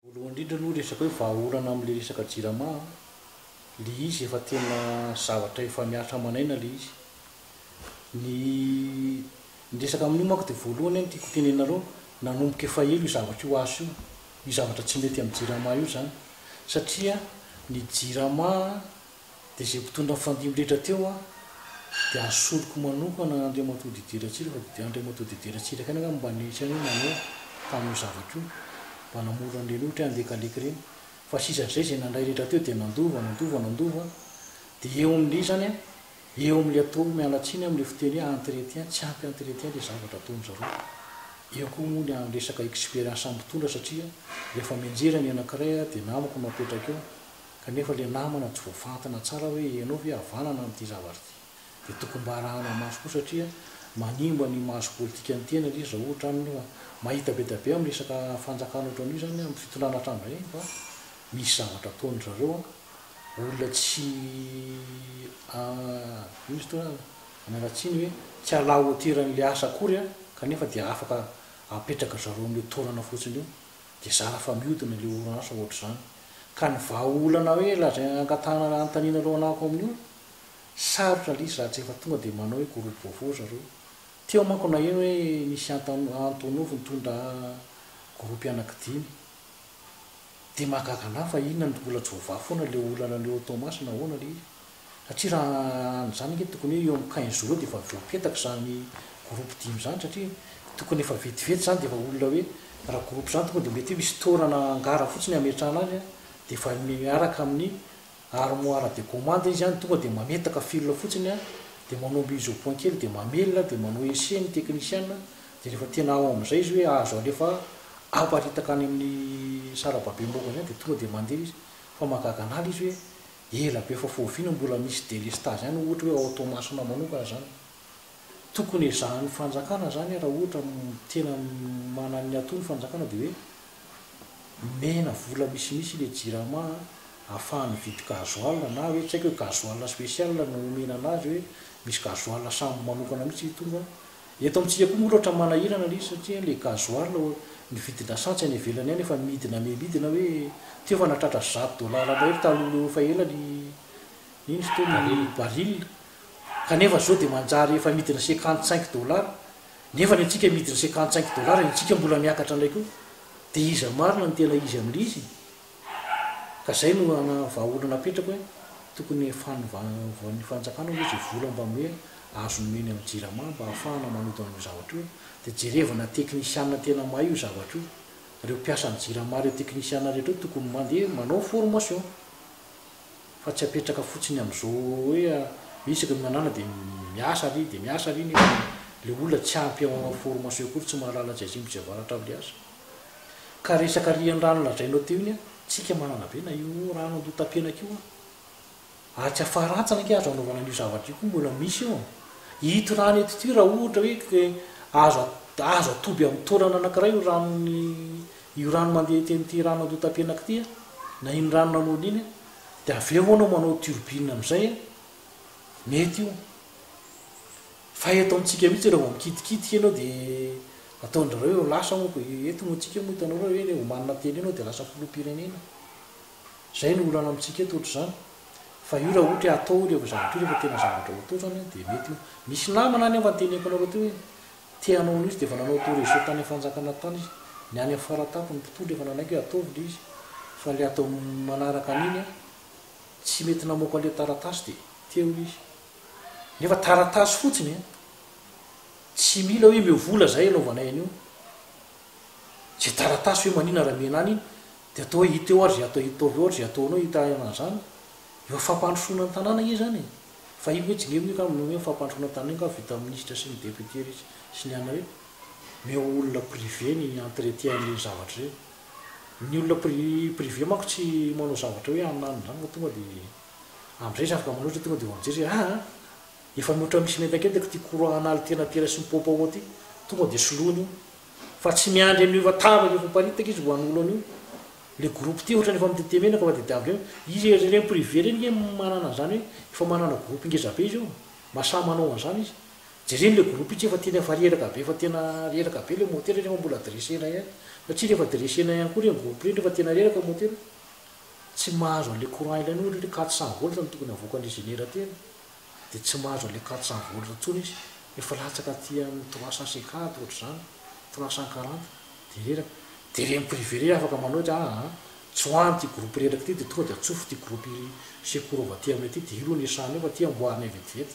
Voalohany indrindra aloha resaka hoe vahaolana amin'ilay resaka jirama, ilay izy efa tena zavatra efa mihatra aman'aina ilay izy. Ny ny resaka amin'io manko dia voalohany no tiako hotenenanareo, nanomboka efa ela io zavatra io asa io, io zavatra tsy mety amin'ny jirama io izany satria ny jirama Dia izay mpitondra nifandimby rehetra teo an, dia asoriko manokana Andriamatoa Didier Ratsiraka fa dia Andriamatoa Didier Ratsiraka ihany angamba mba nihitsy an'io nanao tamin'io zavatra io, mba namoro an'ireny ohatra hoe Andekaleky ireny. Fa sisan'izay izay nandray rehetra teo dia nandova, nandova, nandova an, dia eo amin'ilay izany an, eo amin'ilay atao miala tsiny amin'ilay fiteny hoe entretien, tsy ampy entretien ilay zavatra ataon-dry zareo. Eo koa moa ny amin'ny resaka experience mpitondra satria rehefa mianjera ny anankiray dia namako no apetraka eo, kanefa ilay namana tsy voafantina tsara hoe ianao ve havanana amin'ity zavatra ity dia tokony mba arahana maso koa satria manimba ny maso politikan'ny tena ilay izy raha ohatra aminy io fa mahita be dia be amin'ny resaka fanjakana ohatran'io izany amin'ny fitondrana hatramin'izay fa misy zavatra ataon-dry zareo an, olona tsy a ino izy teo an, an'ala tsiny hoe tsy à la hauteur an'ilay asa akory an, kanefa dia afaka apetraky ry zareo amin'io toerana fotsiny io Dia zara fa miodina ilay oransa ohatr'izany. Ka ny vahaolana hoe lazaina hangatahana raha anontaniana ireo anako amin'io? Sarotra lisy raha tsy efa tonga dia manao hoe groupe vaovao zareo. Teo manko naheno hoe nisy Antonov nitondra groupe anaky dimy. Dia mahagaga anah fa inona no mbola tsy voavaha foana ilay olana any Haut-Thomas na ahoana ilay izy? satria raha an'izany ange tokony hoe eo amin'ny quinze jours eo dia efa voapetaka izany groupe dimy izany satria tokony efa vetivety izany dia efa olona hoe raha groupe izany tonga dia mety hoe misy toerana hangarana fotsiny hametrahana azy dia efa miaraka amin'ny armoire de commande izy any, tonga dia mametaka fil fotsiny dia manao mise au point kely dia mamelona dia manao ese ny technician dia rehefa tena ao amin'izay izy hoe azo alefa aparitaka any amin'ny sarababe morambe any dia tonga dia mandeha izy, fa mahagaga an'ala izy hoe Ela be efa foviana mbola misy delestazy any ohatra hoe ao Toamasina manokana zany. Tokony ezahan'ny fanjakana zany raha ohatra tena manan'ny ato ny fanjakana dia hoe omena vola misimisy ilay jirama ahafahany mividy gasoil na hoe tsy haiko hoe gasoil spécial no omena anazy hoe misy gasoil samy manokana mihitsy tonga Eto amintsika koa moa aloha ohatran'ny manahirana ilay izy satria ilay gasoil ny vidin'asantsy any ivelany any efa midina mi midina hoe teo efa nahatratra zato dollars mahery taloha eo efa ela ny iny izy teo ny baril kanefa izao dia manjary efa midina cinquante cinq dollars nefa ny antsika midina cinquante cinq dollars ny antsika mbola miakatra indray koa dia iza marina no tena izy amin'ilay izy? Ka zay no ana vahaolana apetrako hoe tokony fanovaovan'ny fanjakana aloha izay vola mba hoe azo nomeny amin'ny jirama mba ahafahana manoto an'io zavatra io dia jerevana teknisiana tena mahay io zavatra io, reo mpiasan'ny jirama reo teknisiana rehetra reo tokony mandeha manao formation fa tsy apetraka fotsiny amin'izao hoe hoe isaky ny manana dia miasa ary dia miasa ary nefa le olona tsy ampy ao formation akory tsy mahalala tsy atsimo tsy avaratra avy le asa. Ka resaka riandrano lazainao teo iny a, tsika manana be na io rano andotampianaka io a. Ary tsy afaratsana ange azo anaovana an'io zavatra io koa mbola misy io. Ito rano ito ity raha ohatra hoe azo azo atoby amin'ny taolana anankiray io ranon'ny io rano mandeha ety amin'ity rano andotampianaka ity a, na iny rano nanaona iny a, dia avy eo anao manao turbine amin'izay a, mety io. Fa eto amintsika mihitsy rehefa mikitikitika ianao dia ataon-dry zareo hoe lasa moa fa eto moa antsika moa hitanao hoe rehefa omanina teny ianao dia lasa filoham-pirenena. Izay no olana amintsika eto ohatr'izany. Fa io raha ohatra hoe atao hono io zavatra io rehefa tena zavatra ho atao izany dia mety io. Misy namana any aho fa noteneniko anareo teo hoe te hanao an'io izy dia efa nanao tour région tany amin'ny fanjakana tany izy. Ny any amin'ny Faratampony ny mpitondra efa nanaiky hoe ataovy ilay izy. Fa ilay atao manaraka an'iny an, tsy mety namoaka an'ilay taratasy dia teo izy. Nefa taratasy fotsiny e! Tsy mila hoe meo vola zay anaovanay an'io. Zay taratasy hoe manina raha mena any iny dia atao hoe ita eo ary zay atao itaovy eo ary zay ataonao ita eo an'zany. Eo fampandrosoana ny tanàna ange izany e! Fa iny hoe jingevina io kamo ny fampandrosoana ny tanàna iny kamo vita amin'ny minisitra sy ny député ry sy ny anona rehetra. Meo olona privé ny entretien an'ireny zavatra ireny. Ny olona pri privé manko tsy manao zavatra hoe anona any zany fa tonga dia. Amzay zafy kamo loatra tonga de ho mijery hoe aa efa mihoatra misy mentakentaka ty courant an'alitena aty raisiny popo ao aty tonga de soloina io fa tsy miandry an'io efa tapaka efa miparitaka izy vao hanolo an'io le groupe ty ohatrany efa mitete menaka fa de de amzay izy ery reny privé reny nge manana an'zany hoe efa manana groupe ngeza be izy io mba sahy manao an'zany izy jereny le groupe itsy efa tena efa reraka be efa tena reraka be le motera nefa mbola dressena ihany satria refa dressena ihany koa reny groupe reny refa tena reraka motera tsy mahazo an'ilay courant ilaina ohatra hoe quatre cent volts no tokony havoakan'ilay générateur dia tsy mahazo an'ilay quatre cent volts intsony izy fa efa latsaka aty amin'ny trois cent cinquante ohatra izany, trois cent quarante dia reraka, dia ireny privé ireny afaka manao ohatra hoe aa tsoahina ity groupe reraka ity dia tonga dia atsofo ity groupe secours aty aminay ity dia io aloha no iasana eo fa ity amboarina vetivety.